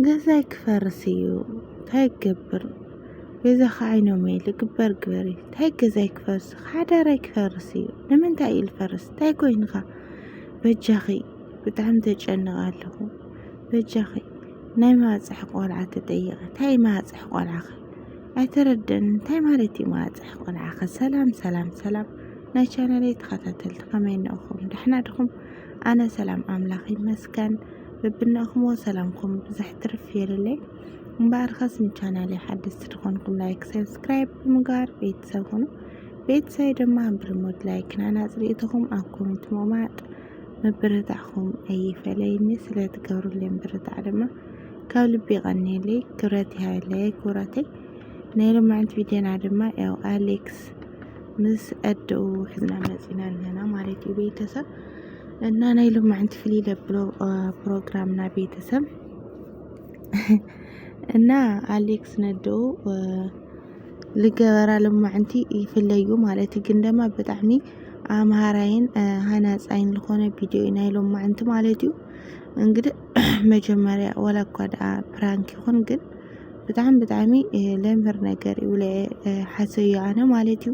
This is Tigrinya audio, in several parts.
ገዛይ ክፈርስ እዩ ታይ ክገብር በይዛኺ ዓይኖመይ ልግበር ግበሪ ታይ ገዛይ ክፈርስ ሓዳረይ ክፈርስ እዩ ንምንታይ እዩ ዝፈርስ ታይ ኮይንኻ በጃኺ ብጣዕሚ ተጨንቀ ኣለኹ በጃኺ ናይ ማህፀሒ ቆልዓ ተጠየቀ ታይ ማህፀሒ ቆልዓኺ ኣይተረደን እንታይ ማለት እዩ ማህፀሒ ቆልዓኺ ሰላም ሰላም ሰላም ናይ ቻናለይ ተኸታተልቲ ከመይ እነኹም ደሕና ድኹም ኣነ ሰላም ኣምላኽ ይመስገን በብናኹሞ ሰላምኩም ብዝሕ ትርፍ የልለይ እምበኣርከስ ንቻናለይ ሓደስቲ ዝኾንኩም ላይክ ሰብስክራይብ ብምግባር ቤተሰብ ኹኑ ቤተሰብ ድማ ብርሙድ ላይክና ናፅሪእትኹም ኣብ ኮሜንት ምቕማጥ ምብርታዕኹም ኣይፈለይኒ ስለትገብሩለይ ምብርታዕ ድማ ካብ ልቢ ይቐንየለይ ክብረት ይሃበለይ ክብረተይ ናይ ሎማዕንቲ ቪድዮና ድማ ያው ኣሌክስ ምስ ኣደኡ ሕዝና መፂና ኣለና ማለት እዩ ቤተሰብ እና ናይ ሎማዕንቲ ፍሊ ለብሎ ፕሮግራምና ቤተሰብ እና ኣሌክስ ነዶ ልገበራ ሎማዕንቲ ይፍለዩ ማለት ግን ደማ ብጣዕሚ ኣምሃራይን ሃናፃይን ዝኾነ ቪድዮ እዩ ናይ ሎማዕንቲ ማለት እዩ እንግዲህ መጀመሪያ ወላ እኳ ደኣ ፕራንክ ይኹን ግን ብጣዕሚ ብጣዕሚ ለምህር ነገር እዩ ብለ ሓሰዮ ኣነ ማለት እዩ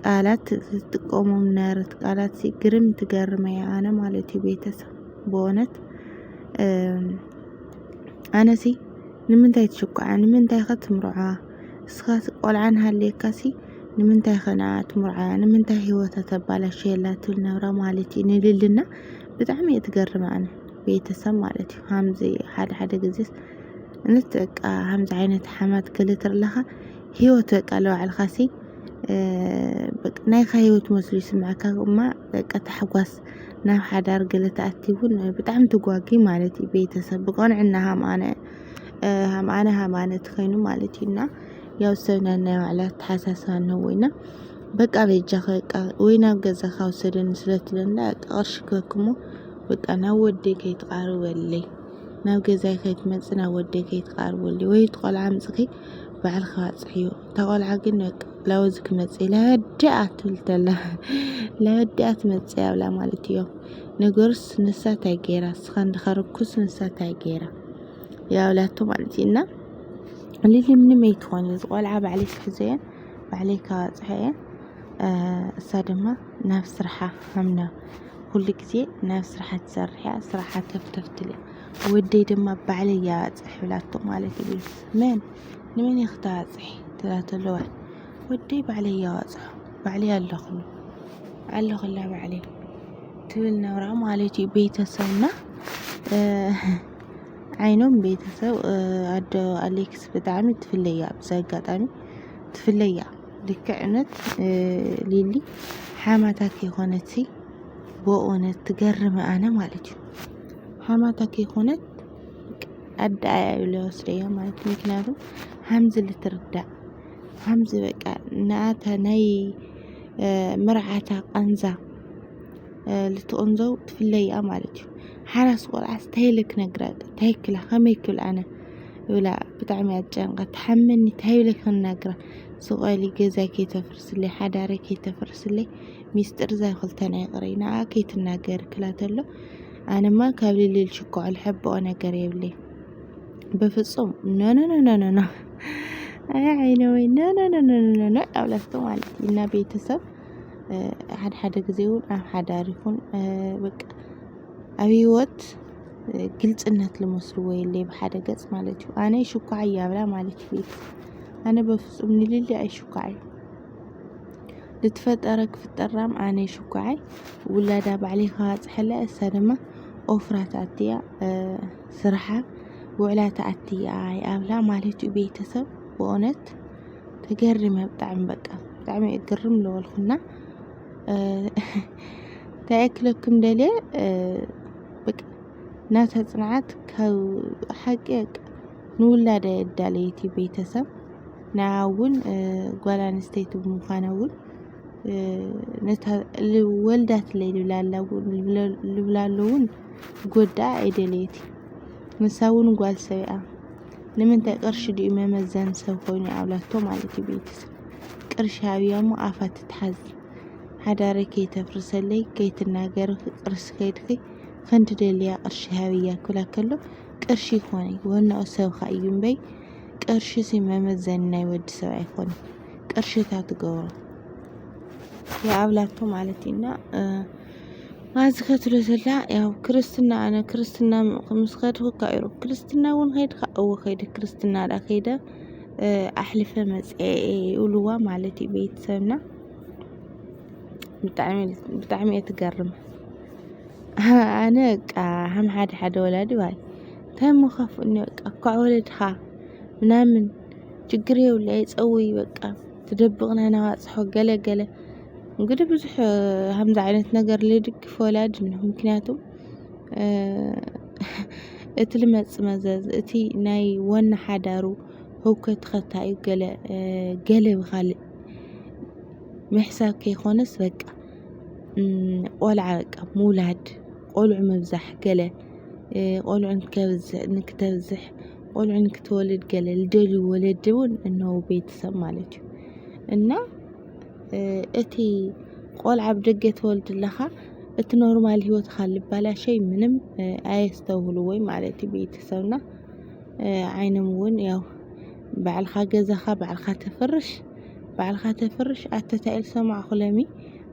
ቃላት ትጥቀሞም ነርት ቃላት ግርም ትገርመ እያ ኣነ ማለት እዩ ቤተሰብ በእውነት ኣነሲ ንምንታይ ትሽኩዓ ንምንታይ ከ ትምርዖ እስኻ ቆልዓ ሃልየካሲ ንምንታይ ከ ንዓ ትምርዖ ንምንታይ ሂወታ ተባላሽየላ ትብል ነብራ ማለት እዩ ንልልና ብጣዕሚ እየ ትገርመ ኣነ ቤተሰብ ማለት እዩ ሃምዚ ሓደ ሓደ ግዜስ እነት በቃ ሃምዚ ዓይነት ሓማት ገለ ትርለኻ ሂወት በቃ ለባዕልካሲ በቃ ናይካ ሂወት መስሉ ይስምዐካ እማ በቃ ታሕጓስ ናብ ሓዳር ገለ ትኣቲ እውን ብጣዕሚ ትጓጊ ማለት እዩ ቤተሰብ ብቐንዕና ሃምኣነ ሃምኣነ ሃምኣነ ትኸይኑ ማለት እዩ እና ያው ሰብ ነናይ ባዕላ ኣተሓሳስባ ኣለዎ እና በቃ በጃኺ በቃ ወይ ናብ ገዛኻ ውሰደኒ ስለ ትብለኒ በቃ ቅርሺ ክበክሞ በቃ ናብ ወደይ ከይትቓርበለይ ናብ ገዛይ ከይትመፅእ ናብ ወደይ ከይትቓርበለይ ወይ እቲ ቆልዓ ኣምፅኺ ባዕልካ ኣጽርዮ እታ ቆልዓ ግን በቃ ላወዚ ክመጽእ ለወዲኣ ትብል ተላ ለወዲኣ ትመጽእ ኣብላ ማለት እዮ ነገሩስ ንሳ እንታይ ገይራ እስኻ እንድኻ ርኩስ ንሳ እንታይ ገይራ ያብላቶ ማለት እዩ እና ሊሊ ምንም ኣይትኾን እዩ ዝቆልዓ ባዕለይ ክሕዘየ ባዕለይ ካባፅሐየ እሳ ድማ ናብ ስርሓ ሃምና ኩሉ ግዜ ናብ ስርሓ ትሰርሕ እያ ስርሓ ከፍተፍትል እያ ወደይ ድማ ባዕለይ እያባፅሕ ብላቶ ማለት እዩ መን ንመን እየ ክተባፅሒ ትብላ ተለዋ ወደይ ባዕለይ እየ ኣዋፅሖ ባዕለይ ኣለኹ ኣለኹላ ባዕለይ ትብል ነብራ ማለት እዩ ቤተሰብና ዓይኖም ቤተሰብ ኣዶ ኣሌክስ ብጣዕሚ ትፍለያ ኣብዚ ኣጋጣሚ ትፍለያ ልክዕነት ሊሊ ሓማታት የኾነት ሲ በእውነት ትገርም ኣነ ማለት እዩ ሓማታት የኾነት ኣደ ኣያ ኢሉ ይወስደዮ ማለት እዩ። ምክንያቱ ሃምዚ ልትርዳእ ሃምዚ በቃ ንኣታ ናይ መርዓታ ቃንዛ ልትቕንዘው ትፍለያ ማለት እዩ። ሓራስ ቆልዓስ እንታይ ኢለ ክነግራ እንታይ ክላ ከመይ ክብል ኣነ ብላ ብጣዕሚ እያ ትጨንቃ ትሓመኒ እንታይ ኢለ ክናግራ ስቆሊ ገዛይ ከይተፍርስለይ ሓዳረይ ከይተፍርስለይ ሚስጥር ዛይ ክልተና ይቕረይ ንኣ ከይትናገሪ ክላ ተሎ ኣነማ ካብ ልልል ሽኮዕ ልሕብኦ ነገር የብለይ በፍጹም ኖኖኖኖኖ ኣይ ዓይነ ወይ ኖኖኖኖኖ ኣብላስቶ ማለት እዩ እና ቤተሰብ ሓደ ሓደ ጊዜ እውን ኣብ ሓዳር ይኹን በቃ ኣብ ህይወት ግልፅነት ልመስልዎ የለይ ብሓደ ገፅ ማለት እዩ ኣነ ሽኳዕ እያብላ ማለት እዩ ኣነ በፍጹም ንልሊ ኣይሽኳዕ እዩ ልትፈጠረ ክፍጠር ራም ኣነይ ሽኳዓይ ውላዳ ባዕለይ ክባፅሐላ እሳ ድማ ኦፍራ ትኣትያ ስራሓ ውዕላ ትኣትያ ይኣብላ ማለት እዩ ቤተሰብ ብእውነት ተገሪመ ብጣዕሚ በቃ ብጣዕሚ እየ ግርም ዝበልኩና እንታይ ክለኩም ደልየ በቃ ናታ ፅንዓት ካብ ሓቂ በቃ ንውላዳ የዳለየት እዩ ቤተሰብ ንዓ እውን ጓል ኣንስተይቲ ብምዃና እውን ነታ ወልዳትለይ ልብላ ኣሎ እውን ክጎድኣ ኣይደለየት እዩ። ንሳ እውን ጓል ሰብ እያ። ንምንታይ ቅርሺ ድዩ መመዘኒ ሰብ ኮይኑ ኣብላቶ ማለት እዩ ቤተሰብ ቅርሺ ሃብያ እሞ ኣፋ ትትሓዝ ሓዳረይ ከይተፍርሰለይ ከይትናገሪ ቅርሲ ከይድኺ ክንዲ ደልያ ቅርሺ ሃብያ ክብላ ከሎ ቅርሺ ይኾነ ወናኡ ሰብኻ እዩ እምበይ ቅርሺ ሲ መመዘኒ ናይ ወዲ ሰብ ኣይኮነን ቅርሺ እታ ትገብሮ የኣብላቶ ማለት እዩ እና ኣብዚ ከትሎ ዘላ ያው ክርስትና ኣነ ክርስትና ምስ ከድኩ እካ ኢሩ ክርስትና እውን ከይድካ እወ ከይደ ክርስትና ዳ ከይደ ኣሕልፈ መፅአ ይብልዋ ማለት እዩ ቤተሰብና ብጣዕሚ እየ ትገርም ኣነ በቃ ሃም ሓደ ሓደ ወላዲ ባይ ታይ እሞ ከፍኡኒ በቃ እኳዕ ወለድኻ ምናምን ችግር የብሉ ኣይፀውይ በቃ ትደብቕና ናባፅሖ ገለ ገለ እንግዲህ ብዙሕ ሃምዚ ዓይነት ነገር ልድግፍ ወላዲ እንሆ ምክንያቱ እቲ ልመፅእ መዘዝ እቲ ናይ ወኒ ሓዳሩ ህውከት ኸታዩ ገለ ገለ ብኻልእ ምሕሳብ ከይኾነስ በቃ ቆልዓ በቃ ምውላድ ቆልዑ ምብዛሕ ገለ ቆልዑ ንከብዝሕ ንክተብዝሕ ቆልዑ ንክትወልድ ገለ ልደልዩ ወለዲ እውን እነዉ ቤተሰብ ማለት እዩ እና እቲ ቆልዓ ብ ደገ ትወልድ ኣለኻ እቲ ኖርማል ሂወትካ ልባላሸይ ምንም ኣየስተውህልዎይ ማለት እዩ ቤተሰብና ዓይኖም እውን ያው ባዕልኻ ገዛኻ ባዕልኻ ተፍርሽ። ባዕልካ ተፍርሽ ኣተታይ ኢል ሰማዕኩ ለሚ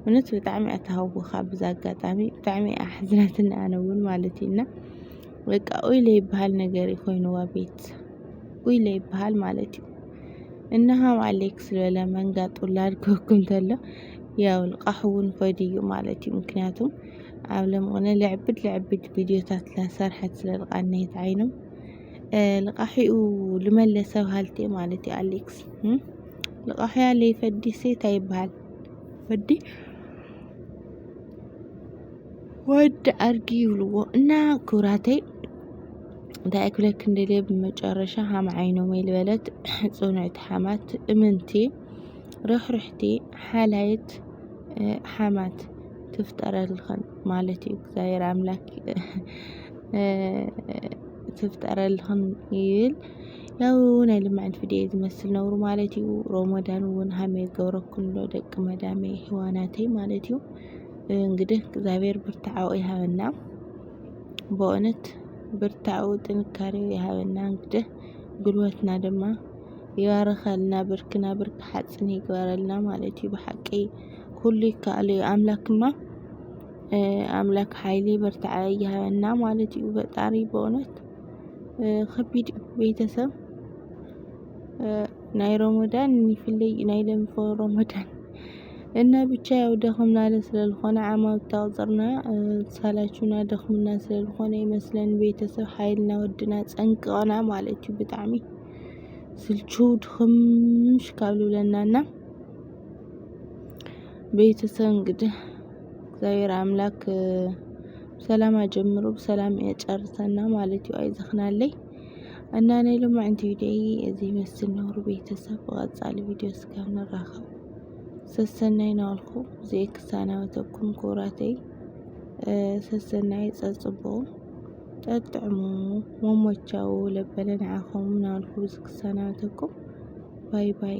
እውነት ብጣዕሚ እያ ተሃውኻ ብዛ ኣጋጣሚ ብጣዕሚ እያ ኣሕዝናትኒ ኣነ እውን ማለት እዩ እና በቃ ኡይ ለይበሃል ነገር እዩ ኮይኑዋ ቤት ኡይ ለይበሃል ማለት እዩ እና ሃም ኣሌክስ ዝበለ መንጋጥ ውላድ ክህኩም ተሎ ያው ንቃሕ እውን ፈድ እዩ ማለት እዩ ምክንያቱም ኣብ ለምቕነ ልዕብድ ልዕብድ ቪድዮታት ላሰርሐት ስለልቃነየት ዓይኖም ልቃሒኡ ልመለሰ በሃልቲ ማለት እዩ ኣሌክስ ልቃሒያ ለይፈዲ ሴት ይበሃል ወዲ ወዲ ኣድጊ ይብልዎ እና ክብራተይ እንታይ ክብለክ እንደልየ ብመጨረሻ ሃም ዓይኖም ልበለት ፅኑዕቲ ሓማት እምንቲ ርሕርሕቲ ሓላይት ሓማት ትፍጠረልኽን ማለት እዩ እግዚኣብሔር ኣምላክ ትፍጠረልኽን ይብል ያው ናይ ልምዕን ፍድየ ዝመስል ነውሩ ማለት እዩ ሮሞዳን እውን ሃመ ገብረኩን ዶ ደቂ መዳሜ ህዋናተይ ማለት እዩ እንግዲህ እግዚኣብሔር ብርታዓኡ ይሃበና በእውነት ብርታዓኡ ጥንካሬው ይሃበና እንግዲህ ጉልበትና ድማ ይባርኸልና ብርክና ብርክ ሓፅን ይግበረልና ማለት እዩ ብሓቂ ኩሉ ይከኣል እዩ ኣምላክማ ኣምላክ ሓይሊ ብርታዐ ይሃበና ማለት እዩ። ፈጣሪ በእውነት ከቢድ እዩ ቤተሰብ ናይ ሮሞዳን ይፍለይ እዩ ናይ ለምፎ ሮሞዳን እና ብቻ ያው ደኽምና ስለልኾነ ዓማብ ታቁፅርና ሳላችሁና ደኽምና ስለልኾነ ይመስለን ቤተሰብ ሓይልና ወድና ፀንቅቕና ማለት እዩ ብጣዕሚ ስልችው ድኽምሽ ካብ ልብለናና ቤተሰብ እንግዲህ እግዚኣብሔር ኣምላክ ብሰላም ኣጀምሩ ብሰላም የጨርሰና ማለት እዩ። ኣይዘኽናለይ እና ናይ ሎማዕንቲ ቪዲዮ እዚ ይመስል ነውሩ ቤተሰብ ብቐጻሊ ቪዲዮ ስጋ ንራኸብ ሰሰናይ ናበልኩ ብዘይ ክሳናበተኩም ክቡራተይ ሰሰናይ ጸጽቦ ጠጥዕሙ መሞቻው ለበለ ንዓኹም ናበልኩ ብዚ ክሳናበተኩም ባይ ባይ